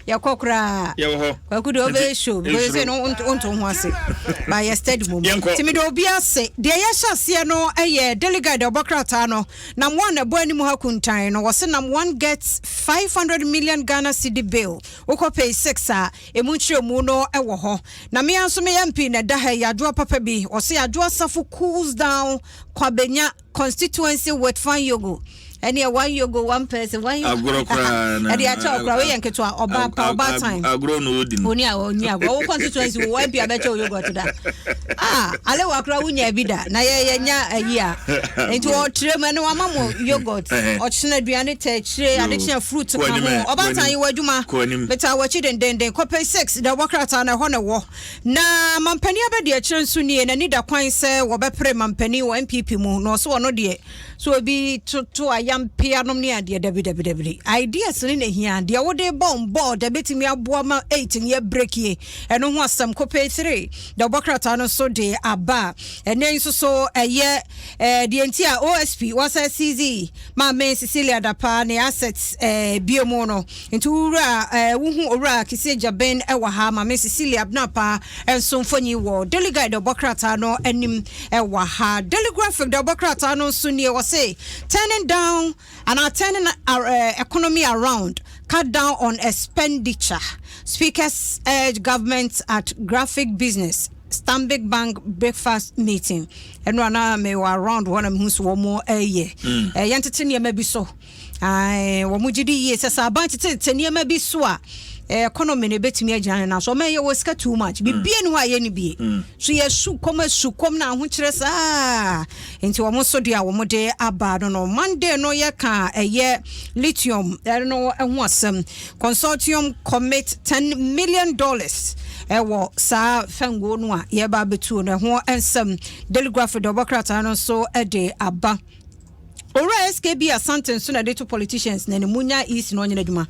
yɛkɔ koraa yɛwɔ hɔ kwaku de ɔbɛyɛ show because sɛ no wonto ho ase ba yɛ steady mom nti mede obi ase deɛ yɛhyɛ aseɛ no ɛyɛ daily guide ɔbɔ krataa no nam one ɛbɔ anim ha kuntan no wɔse nam one gets 500 million ghana city bill wokɔ pay six a ɛmu nkyerɛmu no ɛwɔ hɔ na mea nso meyɛ mp na ɛda ha yɛ adwoa papa bi wɔse adwoa safo cools down kwabenya constituency with fan yogo ɛne one yogo one person one yogo agorɔ koraa na ɛde akyɛ ɔkora woyɛ nketewa ɔba pa ɔba time agorɔ na odi no oni a oni agorɔ wo constituency wo ɛbi abɛkyɛ wo yogurt da ah ale wa kora wonya bi da na yɛ yɛ nya ayi a nti ɔtire mu ɛne wama mo yogurt ɔkyena aduane tɛ kyire ade kyena fruit ka ho ɔba time yi wɔ adwuma beta wɔkyi dendenden kɔpɛ six da wɔkrataa na ɛhɔ na ɛwɔ Na mampanin abadiakyire nso nie, n'ani da kwan sɛ wɔbɛpere mampanin wɔ NPP mu, na ɔso ɔno deɛ sɛ obi toto ayampea nom ne adeɛ dabi dabi dabi. Ideas ne na hia, deɛ wode bɔ mbɔɔ da bɛtumi aboa ma eight no yɛ breakie, ɛno ho asɛm kopee three da ɔbɔ krataa no so de aba. Ɛnɛ yi nso so ɛyɛ eh, deɛ nti a OSP wasa CZ Maame Cecilia Dapa ne assets eh, bio mu no. Nti wo wura eh, wo hu owura Kisieh Gyabin wɔ ha, Maame Cecilia Abnapa nso mfoni wɔ Daily Guide ɔbɔ krataa no anim wɔ ha. Daily Graphic deɛ ɔbɔ krataa no nso nie, wɔse turning down anaa turning eh, economy around, cut down on expenditure, speakers urge government at graphic business Stanbic Bank breakfast meeting ɛno ana mewɔ around hɔ na mehu so wɔn ɛyɛ mm. eh, yɛntete nneɛma bi so. Ae, wɔgye di yie sɛ sɛ aban tetetete nneɛma bi so a, eh, economy no ebetumi agyina ne nan so. Ɔman yɛ wɔ sika too much. Mm. Biribi ni hɔ a yɛnni bie. Mm. So yɛ su kɔm asu kɔm na ahokyerɛ saa. Nti wɔn nso deɛ a wɔde aba no no. Monday no yɛka ɛyɛ lithium ɛno ɛho asɛm. Consortium commit ten million dollars ɛwɔ saa fɛnguo no a yɛba abɛtuo no ɛho nsɛm. Daily Graphic deɛ ɔbɔ krataa no nso ɛde aba. Owura SKB Asante nso na de to politicians na ne mu nya easy na ɔnyɛ n'adwuma.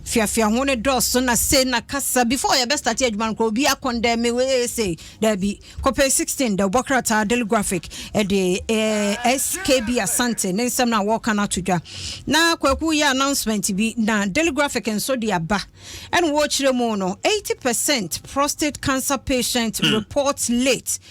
Fiafia ho ne dɔɔso na se na kasa before yɛbɛ start adwuma no kora obi akɔndɛ me wee se daabi kɔpɛ 16 da ɔbɔ krataa daily graphic de eh, SKB Asante ne nsɛm na wɔka no ato dwa na kwaku yɛ announcement bi na daily graphic nso de aba ɛna wɔkyerɛ mu no 80% prostate cancer patient hmm. report late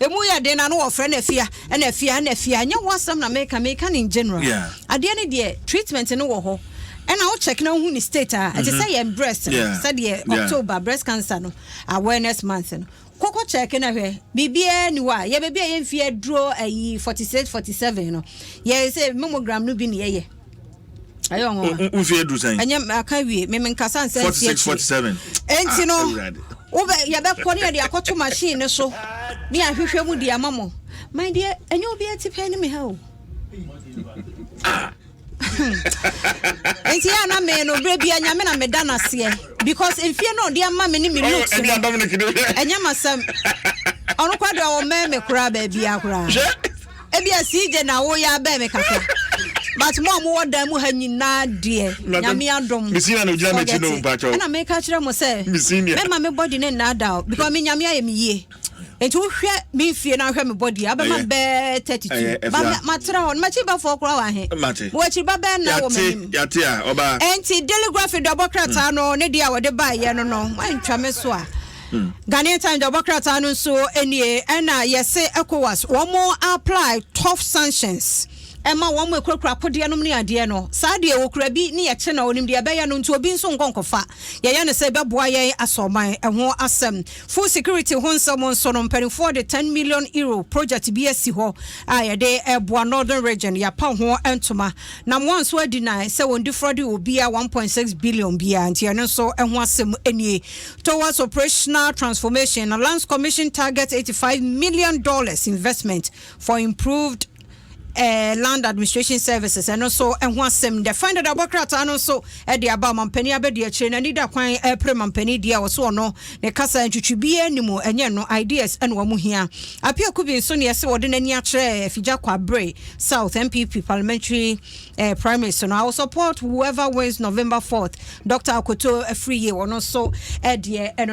Emu yɛ den na na wɔfrɛ no afia ɛna afia ɛna afia ɛnyɛ ho asɛm na meka meka no in general adeɛ no deɛ treatment no wɔ hɔ ɛna wo check na wohu ne state a ɛte sɛ yɛn breast no sɛdeɛ October breast cancer no awareness month no kɔkɔ check na hwɛ biribiara ni hɔ a yɛ baabi a yɛmfie aduro ayi 46 47 no yɛ sɛ mammogram no bi ne yɛyɛ ɛyɛ ɔnwoma nfi edu sɛn ɛnyɛ aka wie mímí nkasa nsɛn nsi akyire ɛnti no wobɛ yɛbɛkɔ ne yɛde akɔto machine ne so ne ahwehwɛ mu di ama mo my dear ɛnyɛ obi ɛti pɛn ne mi ha o. nti yɛ ana me no berɛ bia nyame na meda no aseɛ because mfie no ɔde ama me ne me looks no ɛnyɛ masɛm ɔno kora deɛ ɔwɔ mɛɛ me koraa baabia koraa Ebia CJ na wo ya bɛn me kakra. But mo a mo wɔ dan mu ha nyinaa deɛ nyame adom. Forget it. Ɛna me ka kyerɛ mo sɛ me ma me body ne nnaada o because me nyame ayɛ me yie. Nti wo hwɛ me nfie na hwɛ me body a bɛma bɛɛ 32. Ba ma tra hɔ no makyi ba fɔ kura wɔ he. Mo wakyi ba bɛɛ na wɔ m'anim. Ɛnti deligraphy dɔbɔ krataa no ne deɛ a wɔde baayɛ no no mo antwa me so a. Ghanaian Times de ɔbɔ krataa no nso nie, ɛna yɛse Ecowas wɔn apply tough sanctions ɛma wɔn ɛkurakura akodeɛ nom ne adeɛ no, saa deɛ ɔkura bi ne yɛkye no a ɔnim deɛ ɛbɛyɛ no nti obi nso nkɔ nkɔfa, yɛyɛ no sɛ ɛbɛboa yɛn asɔ ɔman ɛho asɛm. Food security ho nsɛm nso no mpaninfoɔ de ten million euro project bi asi hɔ a yɛde ɛboa northern region, yɛapa ho ntoma na moa nso adi nan sɛ wɔn defrauding obiara one point six billion biara nti ɛno nso ɛho asɛm nie. Towards Operational Transformation na Lands Commission targets eighty five million dollars investment for improved eh, land administration services ɛno nso ɛho asɛm dɛ fine dada bɔ krataa no nso ɛde aba mampanin abɛdi akyire n'ani da kwan ɛpere eh, mampanin deɛ ɔso ɔno ne kasa ntwitwi biara ni mu ɛnyɛ no ideas ɛna wɔn hia apia kubi nso ne ɛsɛ wɔde n'ani akyerɛ afigya kwabere south npp parliamentary eh, premise no i will support whoever wins november 4th dr akoto afiri yie ɔno nso eh, deɛ ɛno no